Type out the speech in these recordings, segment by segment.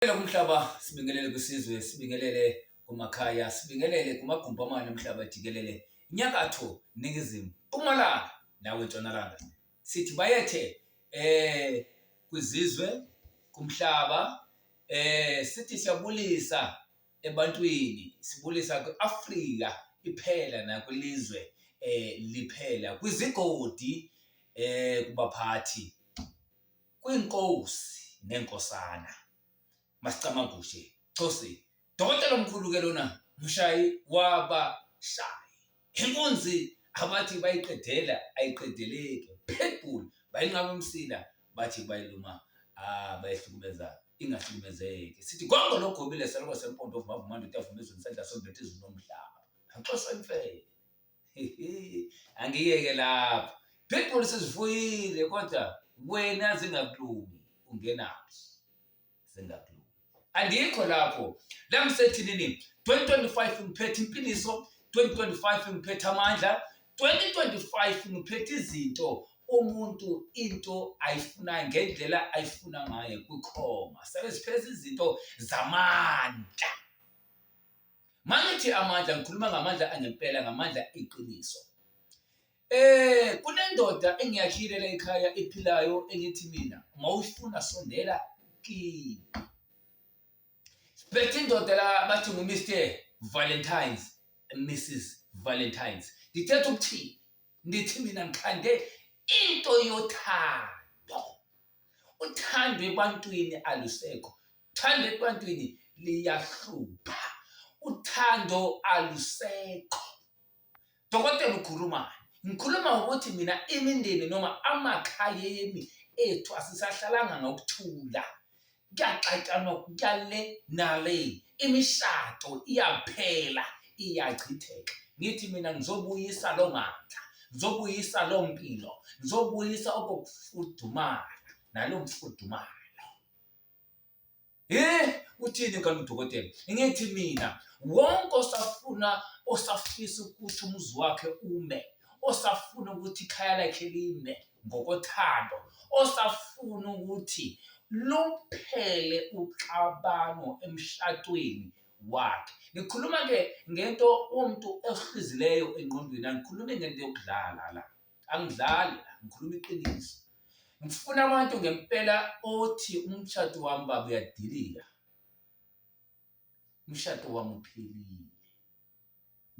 Sibingelele kumhlaba, sibingelele kwisizwe, sibingelele kumakhaya, sibingelele kumagumbi amane omhlaba jikelele, inyakatho, ningizimu, mpumalanga nawe ntshonalanga. Sithi bayethe eh kwizizwe kumhlaba eh sithi siyabulisa ebantwini, sibulisa kwiAfrika iphela nakwilizwe eh liphela kwizigodi eh kubaphathi kwiNkosi neNkosana. Masicamagushe Cosi dokotela omkhulu ke lona mshayi wabashayi. Inkunzi abathi bayiqedela ayiqedeleki. Pitbull bayinqaba umsila bathi bayiluma ah bayihlukumeza ingahlukumezeki. Sithi gongo logobile seloko sempondo ovuma vuma ndoda avuma izulu sandla sombethe izulu nomhlaba. Nxosa imfene. angiyeke lapho pitbull sizifuyile kodwa wena zingakulungi ungenaphi zingakulungi andikho lapho la ngisethinini 2025 ngiphethe impiliso 2025 ngiphethe amandla 2025 ngiphethe izinto umuntu into ayifuna ngendlela ayifuna ngayo kwikhoma sebezipheza izinto zamandla Mangithi amandla ngikhuluma ngamandla angempela ngamandla iqiniso. Eh kunendoda engiyashile la ekhaya ephilayo engithi mina mawufuna sondela kimi. Bethe indoda la bathi ngu Mr Valentine's Mrs Valentine's. Ngithetha ukuthini? Ngithi mina ngikhande into yothando. uthando ebantwini alusekho uthando ebantwini liyahlupha uthando alusekho dokotela ukhulumani ngikhuluma ngokuthi mina imindeni noma amakhayeni ethu asisahlalanga ngokuthula kuyaxatshanwa kuyale nale imishado iyaphela iyachitheka ngithi mina ngizobuyisa lo mandla ngizobuyisa lo mpilo ngizobuyisa okokufudumala nalo mfudumalo eh uthini kanti udokotela ngithi mina wonke osafuna osafisa ukuthi umuzi wakhe ume osafuna ukuthi ikhaya lakhe lime ngokothando osafuna ukuthi luphele uxabano emshadweni wakhe ngikhuluma ke ngento umuntu ehlizileyo engqondweni angikhulumi ngento yokudlala la angidlali la ngikhuluma iqiniso ngifuna abantu ngempela othi umshado wami baba uyadilika umshado wami uphelile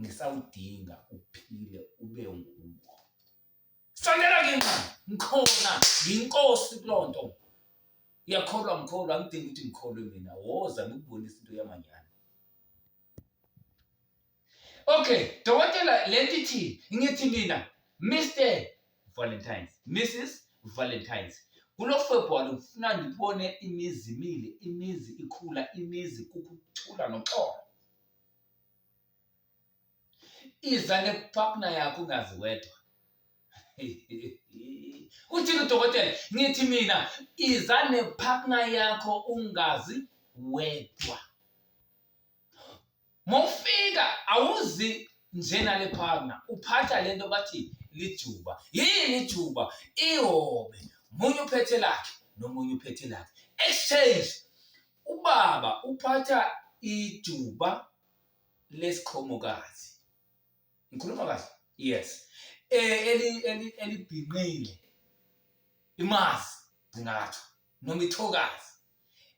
ngisawudinga uphile ube nguwo Sondela ngenxa ngikhona ngiyinkosi kulo nto. Uyakholwa mkholwa angidingi ukuthi ngikholwe mina woza ngikubonisa into yamanyana. Okay, dokotela lento ithi ngithi mina Mr Valentine's, Mrs Valentine's. Kulo February ngifuna ngibone imizi imile, imizi ikhula, imizi kukuthula noxolo. iza nepakna yakho ungazi wedwa uthini udokotela ngithi mina iza nepakna yakho ungazi wedwa mofika awuzi njena le partner uphatha lento bathi lijuba yini ijuba ihobe munye uphethe lakhe nomunye uphethe lakhe exchange ubaba uphatha ijuba lesiqhomokazi ngikhuluma kahle yes eh, eli elibhinqile imazi ngingathi noma ithokazi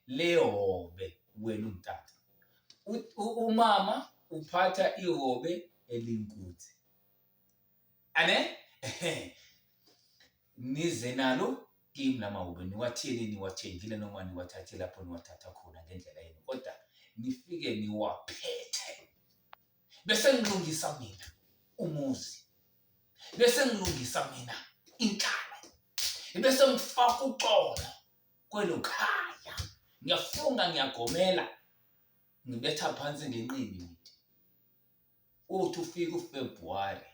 lehobe wena umtata umama uphatha ihobe elinkuthi ane nize nalo kimi lamawube niwatheni niwathengile noma niwathathe lapho niwathatha khona ngendlela yenu kodwa nifike niwaphethe bese ngilungisa mina umuzi bese ngilungisa mina inhlalo bese ngifaka uxolo kwelo khaya ngiyafunga ngiyagomela ngibetha phansi ngenqindi ngithi uthi ufika uFebruary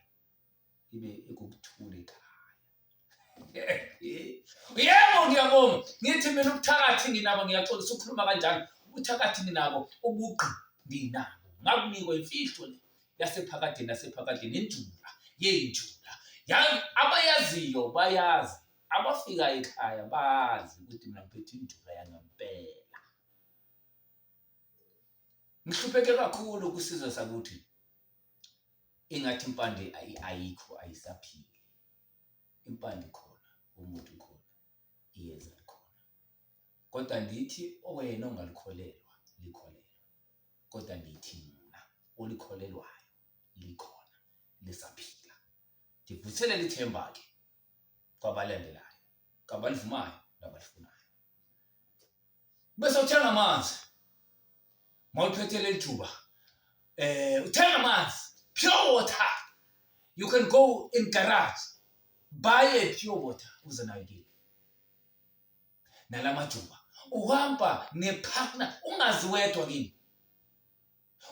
ibe ikukuthula ekhaya yebo ngiyabonga ngithi mina ubuthakathi nginabo ngiyaxolisa ukukhuluma kanjalo ubuthakathi nginabo ubugqi nginabo ngakunikwa imfihlo le yasephakadeni yasephakadeni injula yeyinjula abayaziyo bayazi abafika ekhaya bazi ukuthi mina ngiphethe injula yangempela ngihlupheke kakhulu kusizwe sakuthi ingathi impande ayikho ayisaphili impande khona umuntu khona iyeza likhona kodwa ndithi wena ongalikholelwa likholelwa kodwa ndithi mina olikholelwayo likhona lisaphila ndivuselele ithemba-ke kwabalandelayo kabalivumayo nabalifunayo bese uthenga amanzi mawuphethe leli thuba eh uthenga amanzi pure water you can go in garage buy a pure water uze nayo kini nalamajuba uhamba nepartner ungazi wedwa kini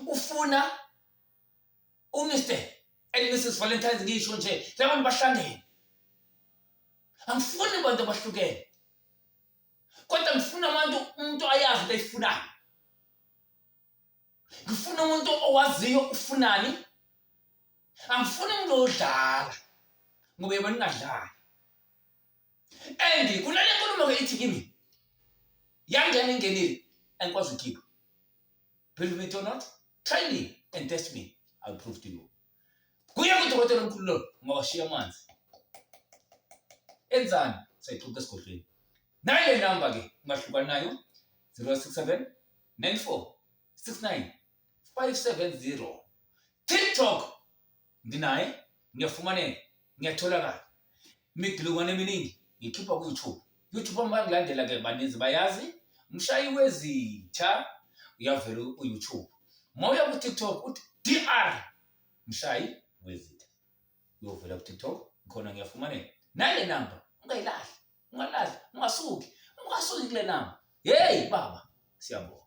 ufuna uMr and Mrs Valentine ngisho nje labantu bahlangene angifuni abantu abahlukene kodwa ngifuna abantu umuntu ayazi into ayifunayo ngifuna umuntu owaziyo ufunani angifuni umuntu odlala ngoba yebo ningadlali and kunale nkulumo ke ithi kimi yangena ingenile angikwazi ukhipha believe it or not Try me and test me. I'll prove to you. Kuye kudokotela omkhulu lo ngawashiya amanzi. Enzani? Sayixoxa esigodlweni. Nayo le number ke ungahluka nayo 067 94 69 570. TikTok nginaye ngiyafumaneka ngiyatholakala imigilukwane eminingi ngikhipha ku-youtube youtube uma bakulandela ke baninzi bayazi mshayi wezitha uyavela u-youtube uma uya ku-tiktok uthi dr mshayi wezitha uyovela ku-tiktok khona ngiyafumaneka nale namba ungayilahli ungalahli ungasuki ungasuki kule namba yeyi baba siyabonga